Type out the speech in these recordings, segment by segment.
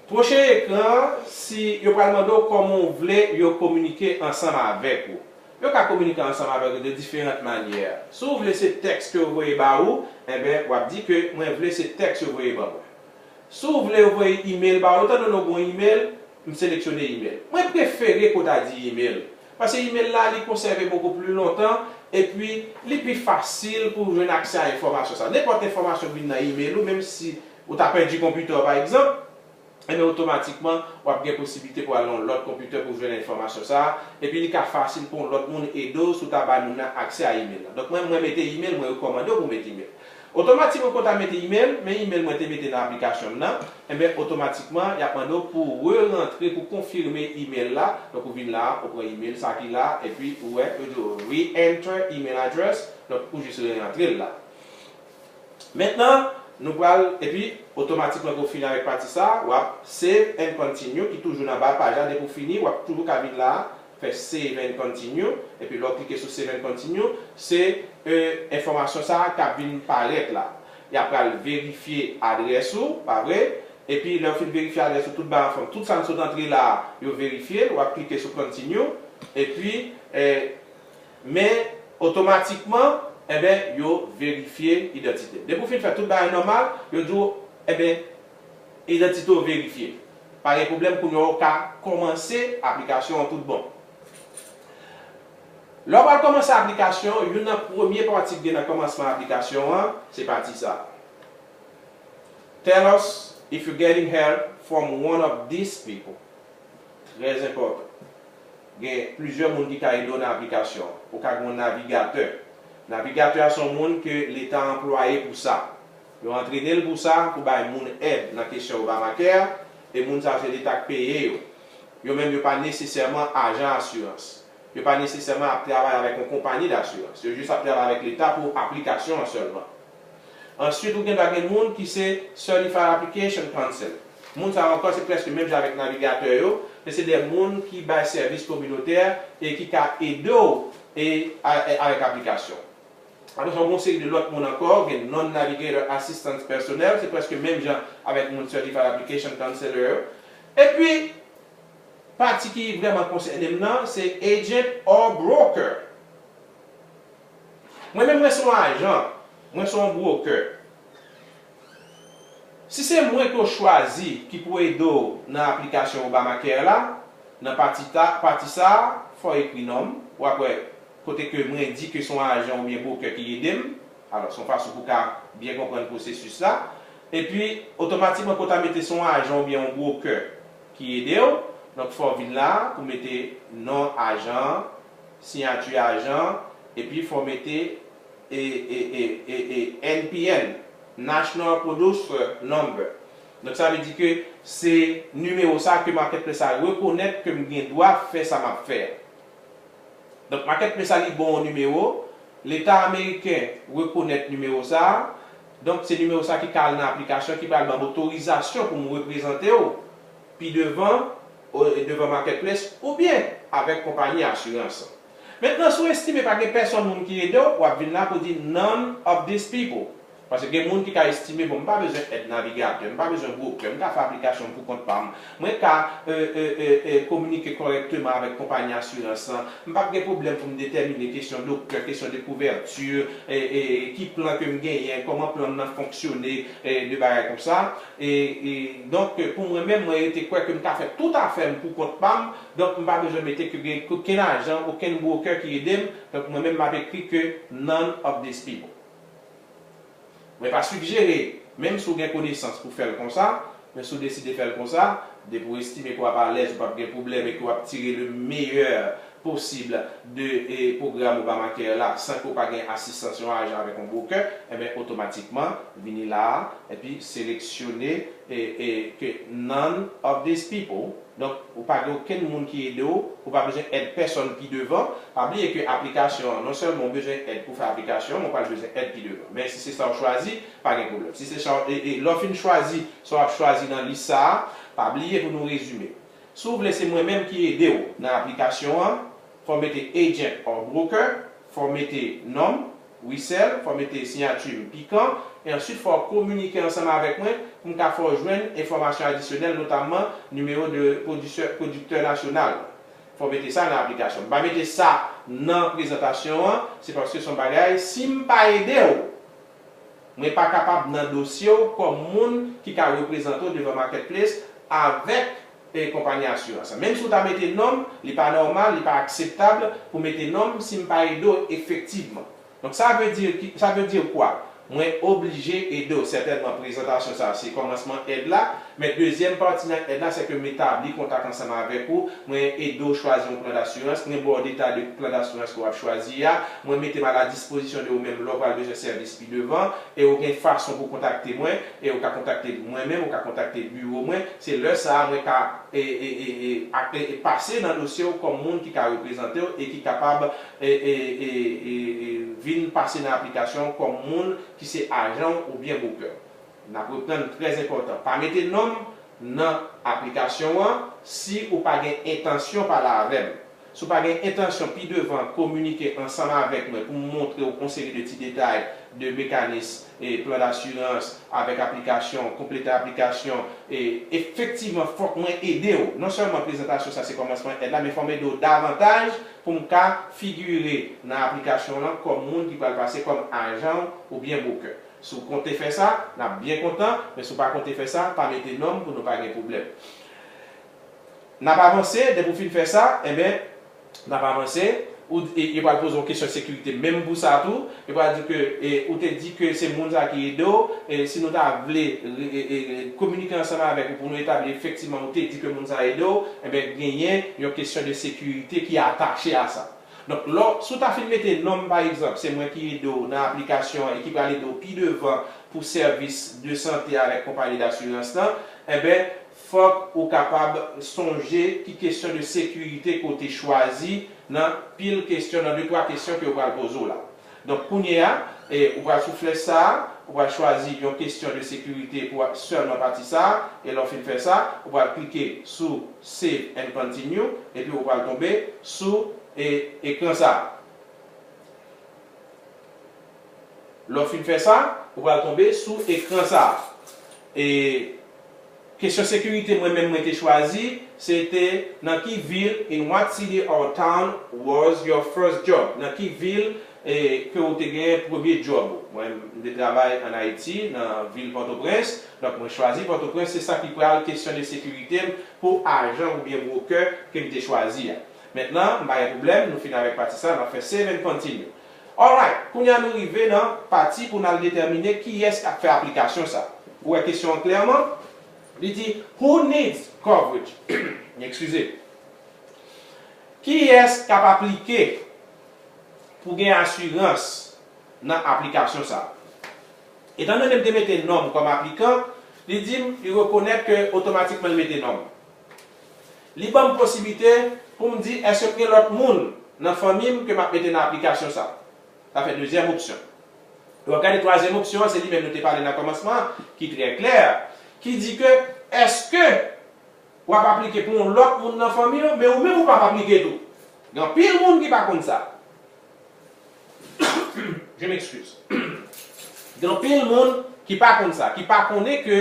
Pwoche ekran an si yo pral mande w kòman w vle yo kominike ansanm avèk ou. Yo ka kominike ansanm avèk ou de diferant manyè. Si w vle se tèks ke yo voye ba ou, enben w ap di ke mwen vle se tèks yo voye ban mwen. Si w vle yo voye email ba ou, etan done w gen yon email, m seleksyone email. Mwen prefere ke w ta di email. Paske imel la li konsève boko pli lontan epi li pi fasil pou w jwenn aksè a enfòmasyon sa. Nenpòt enfòmasyon k vin nan imel ou menm si ou ta pèdi konpitè w pa egzanp, enben otomatikman w ap gen posiblite pou w al nan yon lòt konpitè pou w jwenn enfòmasyon sa epi li ka fasil pou yon lòt moun ede w si w ta bay moun nan aksè a imel la. Donk mwen mwen mete imel, mwen rekòmande w pou w met imel. Otomatikman pou w ta mete imel, men imel mwen te mete nan aplikasyon m nan, enben otomatikman yap mande w pou re rantre pou konfime imel la, donk ou vin la ou pran imel sa ki la epi ou wè yo di w re-enter email address, donk ou jis re rantre l la. Mentnan nou pral epi otomatikman ke w fini avèk pati sa wap save and continue ki toujou nan ba paj la depi w fini wap toujou ka vin la fè Save and Continue, epi lè w klike sou Save and Continue, se e enfòmasyon sa a k ap vin parèt la. Y ap pral verifye adrès ou, pa vre? Epi lè yo fin verifye adrès ou tout ba anfòm, tout sa n sot antre la a, yo verifye l, w ap klike sou Continue, epi e Men, otomatikman, enben, yo verifye idantite w. Depi w fin fè tout bagay nòmal, yo di w, enben, Idantite w verifye. Pa gen pwoblèm kounye a ou ka kòmanse aplikasyon an tout bon. Lè w pral kòmanse aplikasyon an, youn nan premye pati ki gen nan kòmansman aplikasyon an se pati sa a, Tell us if you getting help from one of these people. Trè enpòtan. Gen plizyè moun ki ka ede w nan aplikasyon an. Ou ka gen yon navigatè. Navigatè a se yon moun ke leta anplwaye pou sa. Yo antrene l pou sa, pou bay moun èd nan kesyon Obamacare, e moun sa yo se leta k peye yo. Yo menm yo pa nesesèman ajan asirans. Yo pa nesesèman ap travay avèk yon konpani dasirans. Yo jis ap travay avèk leta pou aplikasyon an sèlman. Ansuit ou gen dwa gen moun ki se Certified Application Counsel. Moun sa yo ankò se prèske menm jan avèk navigatè yo, men se de moun ki bay sèvis kominotè e ki ka ede w e avèk aplikasyon. Aprè sa gen yon seri de lòt moun ankò, gen non-navigator assistants pèsonèl, se prèske menm jan avèk moun certified application counselor yo. Epi, pati ki vrèman konsène m nan, se agent or broker. Mwen menm mwen se yon ajan, mwen se yon broker. Si se mwen ke w chwazi ki pou ede w nan aplikasyon Obamacare la, nan pati ta, pati sa a, fò w ekri non m, w ap wè kote ke mwen di ke son ajan oubyen brokè ki ede m, alò son fason pou ka byen konprann pwosesis la, epi otomatikman ke w ta mete son ajan oubyen yon brokè ki ede w, donk fò w vin la a pou mete non ajan an, siyati ajan an, epi fò w mete e e e e e NPN, National Producer Number, donk sa vle di ke se nimewo sa ke marketplace la rekonèt ke m gen dwa fè sa m ap fè a, Donk makèt men sa li bon yon nimewo, leta ameriken rekonèt nimewo sa, donk se nimewo sa ki ka al nan aplikasyon ki pral banm otorizasyon pou m reprezantew pi devan devan makèt ples oubyen avèk konpayi asirans. Mentnan si w estime pa gen pèsonn moun ki edew, wap vin la pou di none of these people. Paske gen moun ki ka estime, bon m pa bezwen èd navigatè, m pa bezwen bwoker, m ka fè aplikasyon m pou kont pa m, mwen ka kominike kòrèkteman avèk konpayi asirans lan, m p ap gen pwoblèm pou m detèmine kesyon doktè, kesyon de kouverti, ki plan ke m genyen, kòman plan m nan fonksyone, de bagay konsa. Donk pou mwen menm, mwen rete kwè ke m ka fè tout afè m pou kont pa m, donk m pa bezwen mete ke gen okenn ajan, okenn bwoker ki ede m, donk mwen menm m ap ekri ke none of these people. Mwen pa sigjere, menm si w gen konesans pou fè l konsa, men si w deside fè l konsa, depi w estime ke w ap alèz, ou p ap gen pwoblèm e ke w ap tire le meyè posib de pwogram Obamacare la san ke w pa gen asistans yon ajan avèk yon brokè, enben otomatikman vini la a epi seleksyone ke none of these people. Donk, ou pa gen okenn moun ki ede w, ou pa bezwen èd pèsonn pi devan. Pa bliye ke aplikasyon an, non sèlman ou bezwen èd pou w fè aplikasyon an, men w pral bezwen èd pi devan. Men, si se sa w chwazi, pa gen pwoblèm. Si se sa w, e, e, lè w fin chwazi sa w ap chwazi nan lis sa a, pa bliye pou nou rezime. Si w vle se mwen menm ki ede w nan aplikasyon an, fò w mete agent or broker, Fò w mete non m, Wissel, fò w mete siyati m, Pikan, e ansuit fò w kominike ansanm avèk mwen pou m ka fè w jwenn enfòmasyon adisyonèl notamman nimewo de pwodisè, pwodiktè nasyonal. Fò w mete sa nan aplikasyon an. M pa mete sa nan prezantasyon an, se paske s on bagay si m pa ede w, mwen pa kapab nan dosye w kòm moun ki ka reprezante w devan Marketplace avèk. peye konpayi asirans an. Menm si w ta mete non m, li pa nòmal, li pa akseptab pou mete non m si m pa ede w efektivman. Donk sa vle di, sa vle di kwa? Mwen oblije ede w. Sètènman prezantasyon sa se kòmansman èd la, men dezyèm pati nan èd la se ke m etabli kontak ansanm avèk ou, mwen ede w chwazi yon plan dasirans, mwen ba w detay de plan dasirans ke w ap chwazi a, mwen mete m a la dispozisyon de ou menm lè w pral bezwen sèvis. devan e ou gen fason pou kontakte mwen e ou ka kontakte mwen menm ou ka kontakte biwo mwen se lè sa a mwen ka e e e e ak e e pase nan dosye ou kòm moun ki ka reprezante ou e ki kapab e e e e e vin pase nan aplikasyon ou kòm moun ki se ajan ou oubyen bwokè ou n ap reprann trè enpòtan pa mete non m nan aplikasyon an si ou pa gen entansyon pale avè m Si w pa gen entansyon pi devan kominike ansanm avèk mwen pou m montre w yon seri de ti detay de mekanis plan dasirans avèk aplikasyon, konplete aplikasyon, efektivman fòk mwen ede w. Non sèlman prezantasyon sa se kòmansman èd la men fòm ede w davantaj pou m ka figire nan aplikasyon w lan kòm moun ki pral pase kòm ajan w oubyen bwokè. Si w konte fè sa, n ap byen kontan, men si w pa konte fè sa, pa mete non m pou nou pa gen pwoblèm. N ap avanse, depi w fin fè sa, enben, n ap avanse, ou di, yo pral poze w kesyon sekirite menm pou sa tou, yo pral di w ke ou te di ke se moun sa ki ede w, si nou ta vle kominike ansanm avèk ou pou nou etabli efektivman ou te di ke moun sa ede w, enben genyen yon kesyon de sekirite ki atache a sa. Donk, lè w, si w ta fin mete non m pa egzanp, se mwen ki ede w nan aplikasyon an e ki pral ede w pi devan pou sèvis de sante avèk konpayi dasirans lan, enben, Fòk ou kapab sonje ki kesyon de sekirite ke w te chwazi nan pil kesyon, nan de twa kesyon ke yo pral poze w la. Donk kounye a, ou pral sou flèch sa a, ou pral chwazi yon kesyon de sekirite pou sèlman pati sa a, e lè w fin fè sa, ou pral klike sou Save and Continue, epi ou pral tonbe sou ekran sa a. Lè w fin fè sa, ou pral tonbe sou ekran sa a. E kesyon sekirite mwen menm mwen te chwazi se te nan ki vil, in what city or town was your first job? Nan ki vil e ke ou te genyen premye djòb ou? Mwen m te travay an Ayiti, nan vil Pòtoprens, donk mwen chwazi Pòtoprens, se sa ki pral kesyone sekirite m pou ajan oubyen brokè ke m te chwazi a. Mentnan, m pa gen pwoblèm, nou fin avèk pati sa a, n ap fè save and continue. Alright, kounye a nou rive nan pati pou n al detèmine kiyès k ap fè aplikasyon sa. Ou wè kesyon an klèman? Li di, Who needs coverage? Ekskize. Kiyès k ap aplike pou gen asirans nan aplikasyon sa? Etandone m te mete non m kòm aplikan, li di m li rekonèt ke otomatikman l mete non m. Li ban m posiblite pou m di èske m gen lòt moun nan fanmi m ke m ap mete nan aplikasyon sa. Sa fè dezyèm opsyon. Lè w ap gade twazyèm opsyon an, se li menm nou te pale nan kòmansman an, ki trè klè, ki di ke èske w ap aplike pou yon lòt moun nan fanmi w, men ou menm ou p ap aplike tou. Gen anpil moun ki pa konn sa. Je m'excuse. Gen anpil moun ki pa konn sa, ki pa konnen ke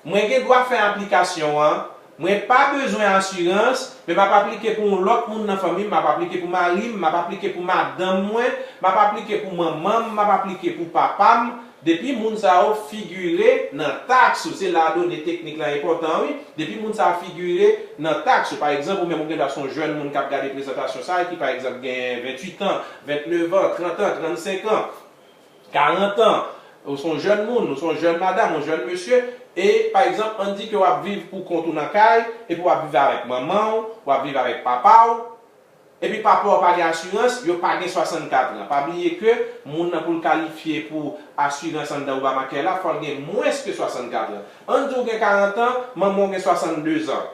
mwen gen dwa fè aplikasyon an, mwen pa bezwen asirans, men m ap aplike pou yon lòt moun nan fanmi m, m ap aplike pou mari m, m ap aplike pou madanm mwen, m ap aplike pou manman m, m ap aplike pou papa m, Depi moun sa yo figure nan taks ou, se la done teknik lan enpòtan wi, depi moun sa figure nan taks ou, pa egzanp ou menm ou gen dwa se yon jèn moun kap gade prezantasyon sa ki pa egzanp gen 28 ans, 29 ans, 30 ans, 35 ans, 40 ans, ou se yon jèn moun, ou se yon jèn madam, yon jèn mesye, e pa egzanp ann di ke wap viv pou kont ou nan kay, epi wap viv avèk manman ou, wap viv avèk papa ou, Epi papa w pa gen asirans, yo pa gen 64 an. Pa bliye ke moun nan pou l kalifye pou asirans anndan Obamacare la, fò l gen mwens ke 64 an. Ann di w gen 40 an, manman w gen 62 zan.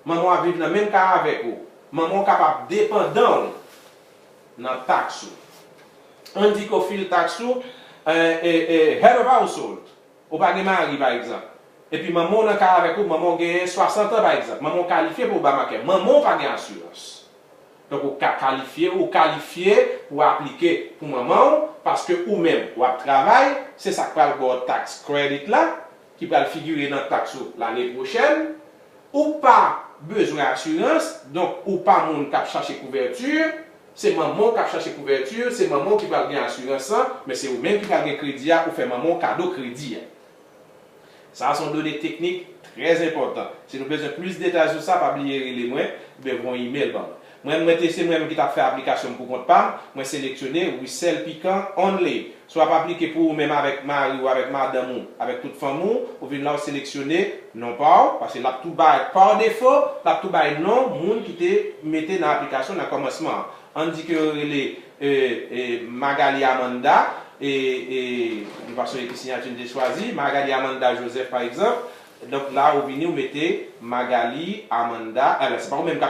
Manman w ap viv nan menm ka avèk ou. Manman w kapab depandan w nan taks ou. Ann di ke w file taks ou, eh, eh, eh, Head of Household. Ou pa gen mari, pa egzanp. Epi manman w nan kay avèk ou, manman w genyen 60 an, pa egzanp. Manman w kalifye pou Obamacare. Manman w pa gen asirans. Donk ou ka kalifye, ou kalifye pou aplike pou manman w, paske ou menm, w ap travay, se sa k pral ba w tax credit la, ki pral figire nan taks ou lane pwochèn. Ou pa bezwen asirans, donk ou pa moun k ap chache kouvèti. Se manmanw kap chache kouvèti, se manmanw ki pral gen asirans lan, men se ou menm ki pral gen kredi a pou fè manmanw kado kredi a. Sa a son done teknik trè enpòtan. Si nou bezwen plis detay sou sa pa bliye rele mwen, oubyen voye email banm. Mwen mwen te se mwen menm ki tap fè aplikasyon m pou kont pam, mwen seleksyone Russell Piquant only Si w ap aplike pou ou menm avèk mari ou, avèk madanm ou, avèk tout fanmi w, ou vin la ou seleksyone non pa w, paske l ap tou bay, pa defo, l ap tou bay non moun ki te mete nan aplikasyon nan kòmansman an. Ann di ke yo rele Magalie Amanda, yon fason ekri siyati m te chwazi, Magalie Amanda Joseph pa egzanp, donk la ou vini ou mete Magalie Amanda, se pa ou menm k ap.